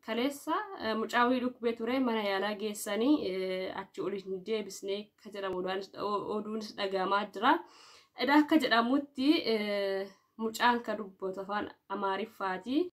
kaleessa mucaa wayii dhukkubee ture mana yaalaa geessanii achi ol hin deebisne akka jedhamu oduunis dhagahamaa jira. Edaa akka jedhamutti mucaan ka dubbatu afaan Amaariffaati.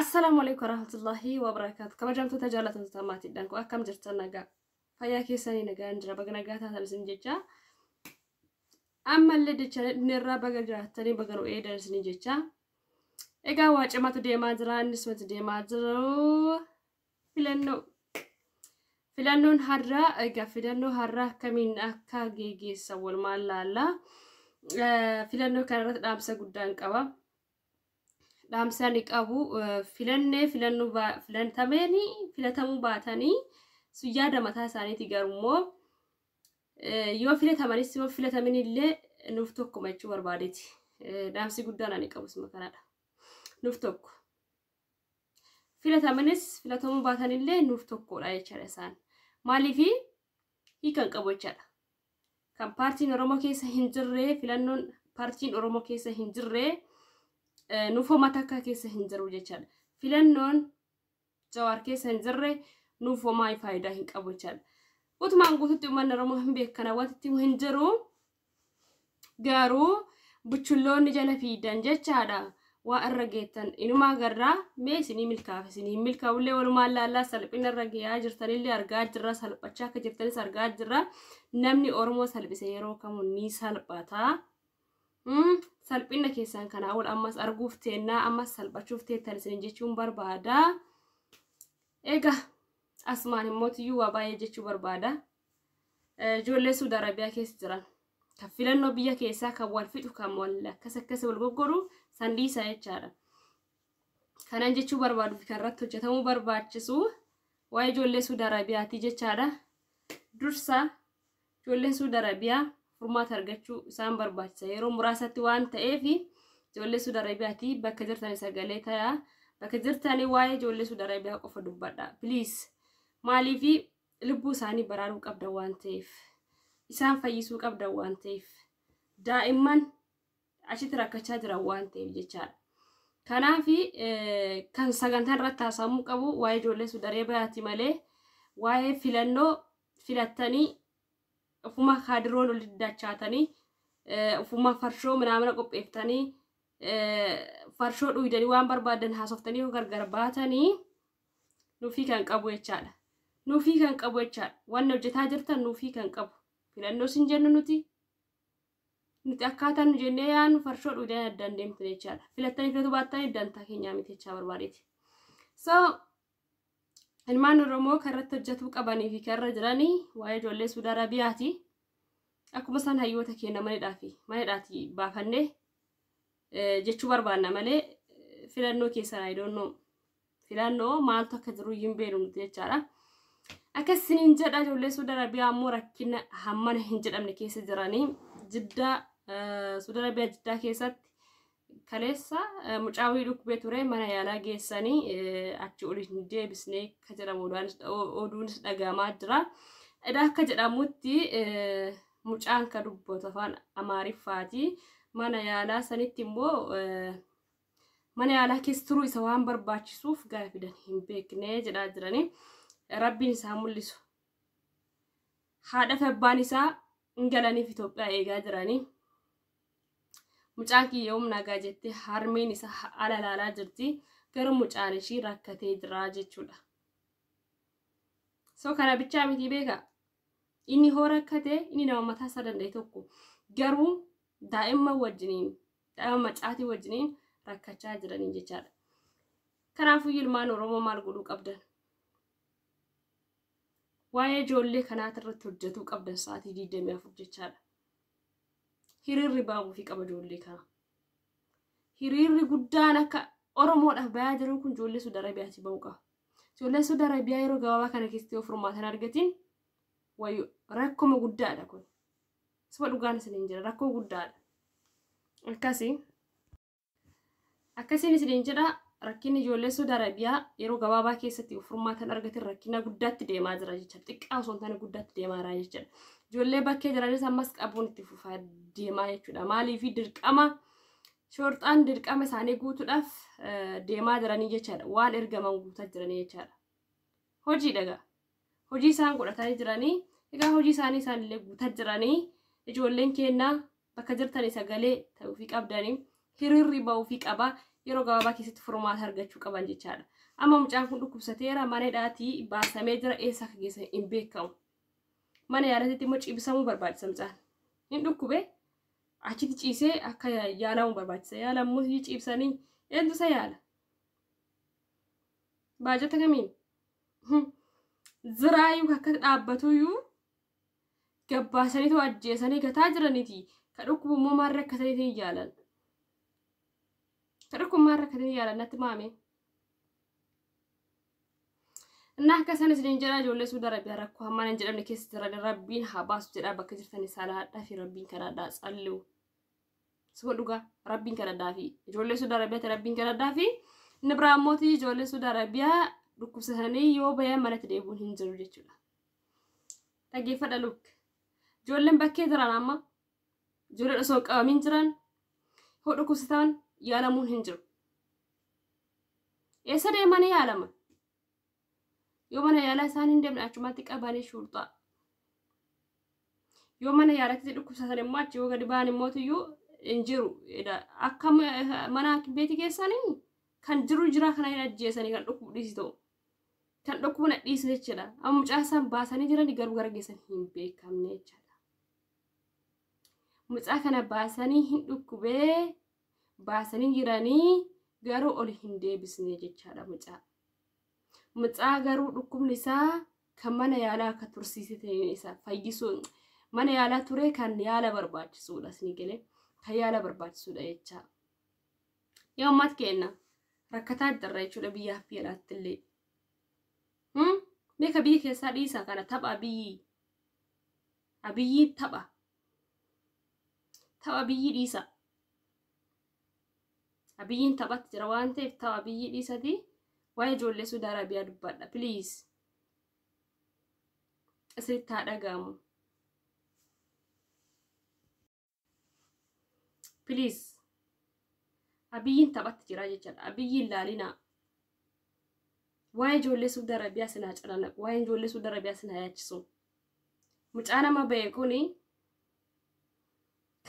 Assalaamu alaikum warahmatullahi wabarakatuh. Kabajamtoota jaallatamtoota maatiidhaan koo akkam jirtan nagaa fayyaa keessanii nagaan jira baga nagaa taatan isin jecha ammallee dachaan dhufneerraa baga jiraattanii baga nu eedan isin jecha egaa waa cimatu deemaa jira innis mati deemaa jiru filannoo filannoon har'aa egaa filannoo har'aa akkamiin akka geggeessan walumaan laallaa filannoo kanarratti dhaamsa guddaan qaba. dhaamsaa ni qabu filannee filannuu filantameenii filatamuu baatanii sun yaada mataa isaaniiti garummoo yoo filatamanis yoo filatamin illee nuuf tokkuma jechuu barbaadeeti dhaamsi guddaan ani qabus makanaadha nuuf tokko filatamanis filatamuu baatan illee nuuf tokkodha jechaadha isaan maaliifi hiikan qabu jechaadha kan paartiin Oromoo keessa hin jirre filannoon paartiin Oromoo keessa hin jirre nuufoo matakka keessa hin jiru jechaadha. Filannoon jawaar keessa hin jirre nuufoo maayii faayidaa hin qabu jechaadha. Utumaan guututti uummanni Oromoo hin beekana wanti hin jiru garuu buchulloonni jala fiidan jechaadha. waa irra geettan inumaa garraa mee isinii milkaaf isinii hin milkaa'ullee walumaan laallaa salphina irra geeyaa jirtanillee argaa jirra salphachaa akka jirtanis argaa jirra namni oromoo salphise yeroo kamuu ni salphata salphina keessan kanaa ol ammas arguuf teennaa ammas salphachuuf teettan isiniin jechuun barbaada egaa asumaan immoo tiyyuu waa baay'ee jechuu barbaada Ijoollee Suudi Arabiyaa keessa jiran kan filannoo biyya keessaa kan wal fixu kan wal akkas akkas wal goggoru san dhiisaa jechaadha. Kanan jechuu barbaadu kan irratti hojjetamuu barbaachisu waa'ee ijoollee Suudi Arabiyaati jechaadha. Dursa ijoolleen Suudi Arabiyaa furmaata argachuu isaan barbaachisa. Yeroo muraasatti waan ta'eef ijoollee Suudi Arabiyaati bakka jirtanii sagalee tayaa bakka jirtanii waa'ee ijoollee Suudi Arabiyaa qofa dubbadha. Please maaliif Lubbuu isaanii baraaruu qabdan waan ta'eef, isaan fayyisuu qabdan waan ta'eef, daa'imman achitti rakkachaa jiran waan ta'eef jechaadha. Kanaaf kan sagantaa irratti haasa'amuu qabu waa'ee ijoollee sudaree bayaati malee waa'ee filannoo filattanii ofuma kaadiroon ol diddachaatanii ofuma farshoo minaamina qopheeftanii farshoo dhuydanii waan barbaadan haasoftanii yoo gargar baatanii Nuufii kan qabu jechaadha. Nuufii kan qabu jechaadha. Wanni hojjetaa jirtan nuufii kan qabu. Filannoo sin jennu nuti. Nuti akkaataa nu jennee yaannu farshoo dhuudeen adda hin deemtu jechaadha. Filattanii filatu baattanii dantaa keenyaa miti jechaa barbaadeeti. So ilmaan Oromoo kan irratti hojjetuu qabanii fi kan irra jiranii waa'ee ijoollee Suudi Arabiyaati. Akkuma isaan hayyoota keenya manidhaa fi manidhaati baafannee jechuu barbaanna malee filannoo keessan I don't know. filannoo maaltu akka jiru hin beeknu nuti jechaadha. Akkas isiniin jedha ijoollee Suudi Arabiyaa ammoo rakkina hammana hin jedhamne keessa jiranii jiddaa Suudi Arabiyaa jiddaa keessatti kaleessa mucaawii dhukkubee ture mana yaalaa geessanii achi oli hin deebisne akka jedhamu oduunis dhagahamaa jira. Edaa akka jedhamutti mucaan ka dubbatu afaan Amaariffaati. Mana yaalaa sanitti immoo mana yaalaa keessa turuu isa waan barbaachisuuf gara fidan hin beekne jedhaa jiranii rabbiin isaa mul'isu. Haadha fi abbaan isaa hin galaniif Itoophiyaa eegaa jiranii. Mucaan kiyya humna nagaa jettee harmeen isaa ala ilaalaa jirti. Garuu mucaan ishii rakkatee jira jechuudha. So kana bichaa miti beeka. Inni hoo rakkate inni nama mataa isaa danda'e tokko. Garuu daa'imman wajjiniin daa'ima macaatii wajjiniin rakkachaa jiranii jechaadha. Kanaafuu ilmaan Oromoo maal godhuu qabdan? Waa'ee ijoollee kanaati irratti hojjetuu qabdan sa'aatii 24 jechaadha. Hiriirri baabuufii qaba ijoollee kana. Hiriirri guddaan akka Oromoodhaaf bayaa jiru kun ijoollee Suudi Arabiyaati ba'uu qaba. Ijoolleen Suudi Arabiyaa yeroo gabaabaa kana keessatti yoo furmaatan argatiin wayyo rakkoma guddaadha kun. Suba dhugaan isiniin jedha rakkoo guddaadha. Akkasi. Akkasiin isiniin jedha rakkinni ijoollee Suudi Arabiyaa yeroo gabaabaa keessatti furmaatan argatin rakkina guddaatti deemaa jira jechuudha. Xiqqaa osoo hin taane guddaatti deemaa jira jechuudha. Ijoollee bakkee jiranis ammas qabuun itti fufaa deemaa jechuudha. Maaliif dirqama shorxaan dirqama isaanii guutuudhaaf deemaa jiranii jechaadha. Waan ergaman guutaa jiranii jechaadha. Hojii dhagaa. hojii isaan godhatanii jiranii egaa hojii isaanii isaanillee guutaa jiranii ijoolleen keennaa bakka jirtanii sagalee ta'uufii qabdanii hiriirri ba'uufii qaba yeroo gabaabaa keessatti furmaata argachuu qaban jechaadha. Amma mucaan kun dhukkubsateera mana hidhaatii baasamee jira eessa akka geessan hin beekamu. Mana yaalatitti immoo ciibsamuu barbaachisa mucaan. Hin dhukkube achitti ciisee akka yaalamu barbaachisa. Yaalamuu ciibsanii eentu isa yaala? Baajata kamiin? Ziraayuu akka dhaabbatuyyuu gabbaasaniitu ajjeesanii gataa jiraniti. Ka dhukkubu immoo maal rakkataniitiin yaalan. Ka dhukkubu maal rakkatanii yaalan natti maame. Innaa akka isaan isiniin jedhaa ijoollee suuda rabbiyaa rakkoo hammaan hin jedhamne keessa jiran rabbiin haa baasu jedhaa bakka jirtan isaa laadhaa fi rabbiin kadhaadhaa tsalliu. Suma dhugaa rabbiin kadhadhaa fi ijoollee Suudi Arabiyaatti rabbiin kadhadhaa fi inni biraa immoo ijoollee Suudi Arabiyaa dhukkubsatanii yoo bayan manatti deebi'uun hin jiru jechuudha. Dhaggeeffadha lukk. Ijoolleen bakkee jiran amma ijoolleen osoo hin qabamin jiran yoo dhukkubsatan yaalamuun hin jiru. Eessa deemanii yaalaman? yoo mana yaalaa isaan hin deemne achumatti qabanii shuurxaa yoo mana yaalatti dhukkubsatan immoo achi yoo gadi ba'an immoo iyyuu hin jiru akka mana beetii keessanii kan jiru jiraa kana hin ajjeesanii kan dhukkubu dhiisi ta'u kan dhukkubu na dhiisi jechuudha amma mucaa isaan baasanii jiran garuu gara geessan hin beekamne jechuudha mucaa kana baasanii hin dhukkubee baasanii jiranii garuu ol hin deebisne jechaadha mucaa. Mucaa garuu dhukkubni isaa kan mana yaalaa akka tursiise ta'een isaa fayyisuu mana yaalaa ture kan yaala barbaachisuudha isin galee kan yaala barbaachisuudha jechaa. Yaa uummata keenya rakkataa jirra jechuudha biyyaa fi alaatti illee. Beeka biyya keessaa dhiisaa kana tapha biyyi abiyyi tapha tapha biyyi dhiisaa. Abiyyiin taphatti jira waan ta'eef ta'u abiyyii dhiisatii waa'ee ijoollee Suudi Arabiyaa dubbadha please. Isinitti haa dhaga'amu. Please. Abiyyiin taphatti jira jechaadha. Abiyyiin laalinaa. Waa'ee ijoollee Suudi Arabiyaa sin haa calanaqu. Waa'ee ijoollee Suudi Arabiyaa sin haa yaachisu. Mucaa nama ba'e kuni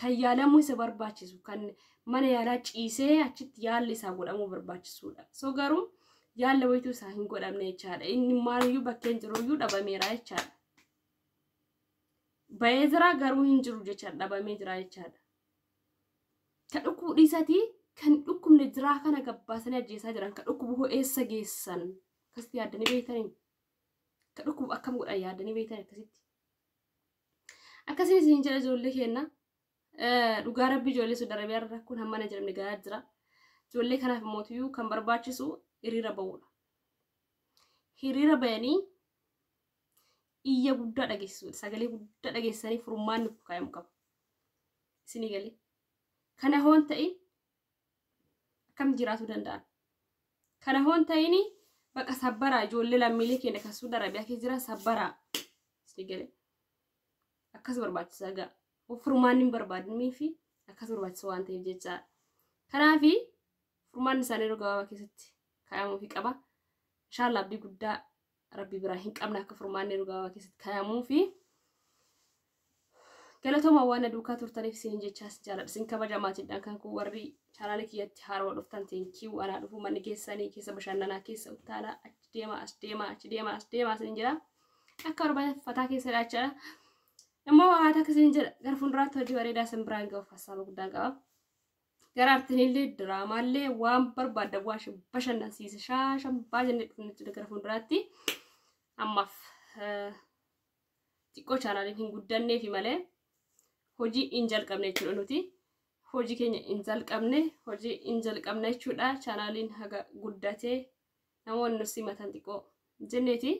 kan yaalamuu isa barbaachisu kan mana yaalaa ciisee achitti yaalli isaa godhamuu barbaachisuudha. So garuu yaalla wayituu isaa hin godhamne jechaadha. Inni maaliyyuu bakkeen jiruyyuu dhabameera jechaadha. Ba'ee jira garuu hin jiru jechaadha dhabamee jira jechaadha. Kan dhukkubu dhiisatii kan dhukkubne jiraa kana gabbaasanii ajjeesaa jiran kan dhukkubu hoo eessa geessan akkasitti yaaddanii beektanii kan dhukkubu akkam godhan yaaddanii beektanii akkasitti. Akkasiin isiniin jedha ijoollee keenna. Dhugaa rabbi ijoollee Saudi Arabiyaa irra rakkoon hammana jedhamne gahaa jira. Ijoollee kanaaf mootiyyuu kan barbaachisu hiriira ba'uudha. Hiriira bayanii iyya guddaa dhageessisuudha. Sagalee guddaa dhageessisanii furmaanni kaa'amu qaba. Isinii galee. Kana hoon ta'in akkamitti jiraachuu danda'an kana hoon ta'ini baqa sabbaraa ijoollee lammiilee keenya kan suuda arabiyaa keessa jiran sabbaraa si gale akkas barbaachisa gaa furmaan hin barbaadnii fi akkas barbaachisa waan ta'eef jechaa kanaaf furmaan isaanii yeroo gabaabaa keessatti kaa'amuufi qaba inshaallah abdii guddaa rabbi biraa hin qabne akka furmaanni yeroo gabaabaa keessatti kaa'amuu fi galatooma waan na duukaa turtaniif isiniin jechaa isin jaaladha isin kabaja maatiidhaan kan koo warri chaanaala kiyyatti haarawa dhuftan teenkii anaa dhufuu manni keessanii keessa bashannanaa keessa uttaalaa achi deemaa as deemaa achi deemaa as deemaa isiniin jira akka barbaadan fataa keessa dhaachaa immoo haata akkasiin jedha gara fuulduraatti hojii bareedaa isin biraan ga'uuf hassaaba guddaan qaba. Gara artiinillee diraamaallee waan barbaadda waan isin bashannansiise shaashan baajannee dhufne jechuudha gara fuulduraatti. Ammaaf eh, xiqqoo chaanaaliin hin guddanneefi malee hojii hin jalqabne jechuudha nuti. Hojii keenya hin jalqabne hojii hin jalqabne jechuudha chaanaaliin haga guddatee namoonni nu simatan xiqqoo jenneeti.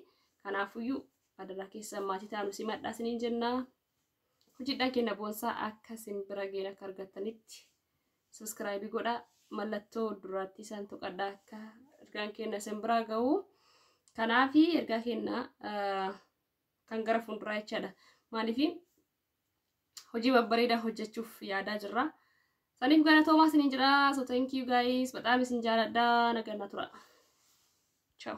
Kanaafuyyuu adaraa keessan maatii taanu simadhaa isiniin jennaa. Hojidhaa keenya boonsaa akka sin bira geenye akka argattanitti subscribe godhaa mallattoo duraattii isaan tuqadhaa akka ergaan keenya sin biraa ga'u. Kanaaf ergaa keenya kan gara fuulduraa jechaadha. Maaliif hojii babbareedaa hojjechuuf yaadaa jirra. Saniif galatoomaa isiniin jedha. So thank you guys. Badaam isin jaaladha. Nagaan na tura. Ciao.